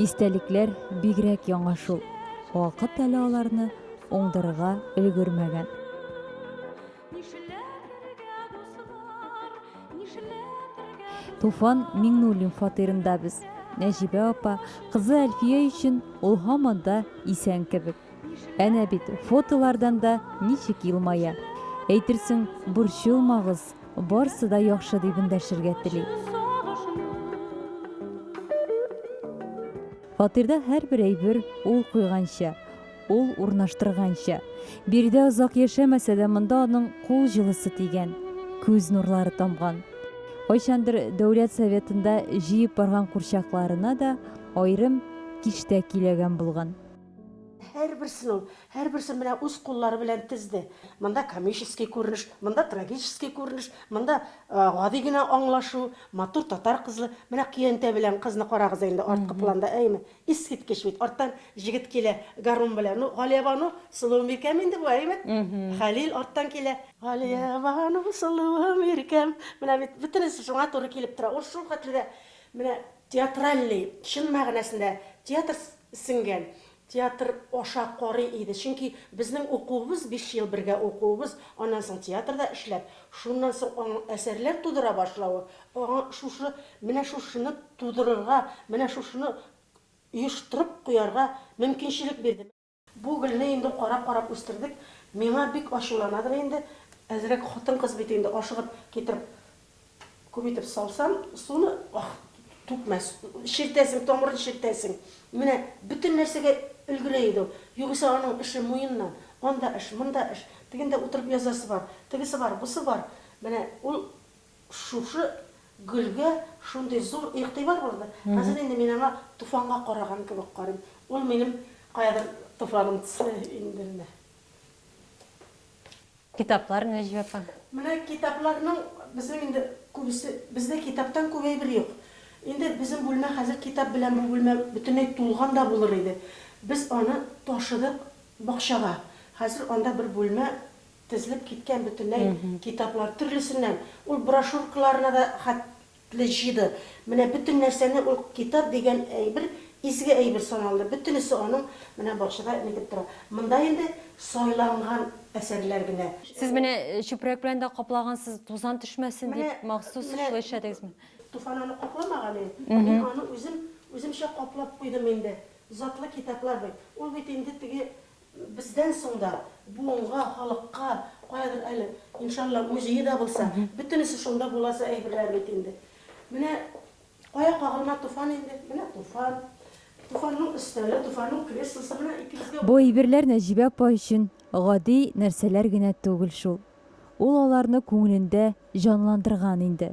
Истәлекләр бигрәк яңа шул, вакыт әле аларны уңдырырга өлгермәгән. Туфан Миңнуллин фатирында без. Нәҗибә апа, кызы Әлфия өчен ул һаман да исән кебек. Әнә бит, фотолардан да ничек елмая. Әйтерсең, борчылмагыз, барсы да яхшы дип эндәшергә тели. Фатирда һәрбер әйбер ул куйганча, ул урнаштырганча. Биредә озак яшәмәсә дә, монда аның кул җылысы тигән, күз нурлары тамган. Кайчандыр Дәүләт Советында җыеп барган курчакларына да аерым киштә киләгән булган. Һәрберсен ул, һәрберсен менә үз куллары белән тезде. Монда комический күренеш, монда трагический күренеш, монда гади генә аңлашу, матур татар кызы, менә көянтә белән кызны карагыз әле инде арткы планда, әйеме? Искиткеч бит, арттан җегет килә гармун белән. Ну, Галиябану, сылуым иркәм инде бу, әйеме? Хәлил арттан килә. Галиябану, сылуым иркәм. Менә бит бөтенесе шуңа туры килеп тора. Ул шулхәтле дә менә Театральный, чын мәгънәсендә театр сеңгән, театр аша карый иде, чөнки безнең укуыбыз, биш ел бергә укуыбыз, аннан соң театрда эшләп, шуннан соң аның әсәрләр тудыра башлавы, аңа шушы, менә шушыны тудырырга, менә шушыны оештырып куярга мөмкинчелек бирде. Бу гөлне инде карап-карап үстердек, миңа бик ачуланадыр инде, әзрәк хатын-кыз бит инде, ашыгып китереп күп итеп салсам, суны түкмәс, чиртәсең, тамырын чиртәсең. Менә бөтен нәрсәгә өлгерә иде ул. Югыйсә аның эше муеннан, анда эш, монда эш, тегендә утырып язасы бар, тегесе бар, бусы бар. Менә ул. Шушы гөлгә шундый зур игътибар булды, хәзер инде мин аңа туфанга караган кебек карыйм. Ул минем каядыр туфаным төсле инде менә. Китаплар, Нәҗибә апа? Менә китапларның безнең инде күбесе, бездә китаптан күп әйбер юк. Инде безнең бүлмә хәзер китап белән бу бүлмә бөтенләй тулган да булыр иде. Без аны ташыдык бакчага. Хәзер анда бер бүлмә Тезелеп киткән бөтенләй китаплар төрлесеннән, ул брошюркаларына да хәтле җыйды. Менә бөтен нәрсәне ул китап дигән әйбер изге әйбер саналды. Бөтенесе аның менә бакчада нитеп тора. Монда инде сайланган әсәрләр генә. Сез менә чүпрәк белән дә каплагансыз, тузан төшмәсен дип, махсус шулай эшләдегезме? Менә Туфан аны капламаган инде. Мин аны үзем, үземчә каплап куйдым инде. Затлы китаплар бит. Ул бит инде теге Бездән соң да буынга, халыкка, каядыр әле, иншалла, музее да булса, бөтенесе шунда буласы әйберләр бит инде. Менә кая кагылма Туфан инде, менә Туфан, Туфанның өстәле, Туфанның креслосы, менә икебезгә. Бу әйберләр Нәҗибә апа өчен гади нәрсәләр генә түгел шул. Ул аларны күңелендә җанландырган инде.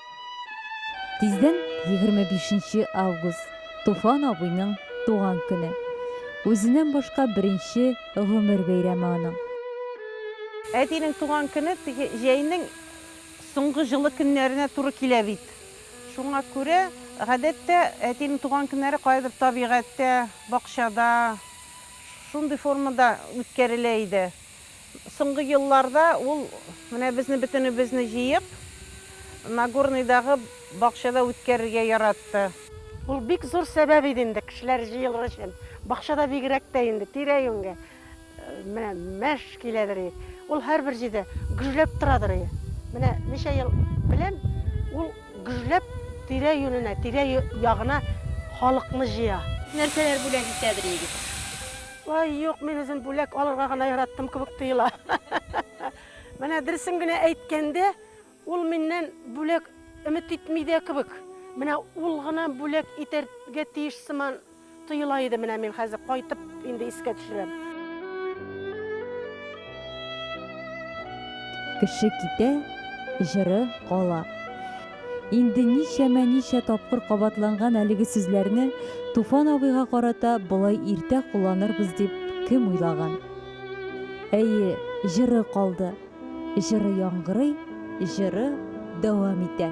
Тиздән 25 август, Туфан абыйның туган көне. Үзеннән башка беренче гомер бәйрәме аның. Әтинең туган көне теге җәйнең соңгы җылы көннәренә туры килә бит. Шуңа күрә, гадәттә, әтинең туган көннәре каядыр табигатьтә, бакчада, шундый формада үткәрелә иде. Соңгы елларда ул менә безне бөтенебезне җыеп, Нагорныйдагы бакчада үткәрергә яратты. Ул бик зур сәбәп иде инде кешеләр җыелыр өчен. Бакчада бигрәк тә инде, тирә-юньгә менә мәш киләдер и. Ул һәрбер җирдә гөжләп торадыр и. Менә ничә ел белән ул гөжләп тирә-юненә, тирә-ягына халыкны җыя. Нәрсәләр бүләк итәдер егет? Вай, юк, мин үзем бүләк алырга гына яраттым кебек тоела. Менә дөресен генә әйткәндә, ул миннән бүләк өмет итми дә кебек. Менә ул гына бүләк итәргә тиеш сыман тоела иде менә мин хәзер кайтып инде искә төшерәм. Кеше китә, җыры кала. Инде ничәмә-ничә тапкыр кабатланган әлеге сүзләрне Туфан абыйга карата болай иртә кулланырбыз дип кем уйлаган? Әйе, җыры калды. Җыры яңгырый, җыры дәвам итә.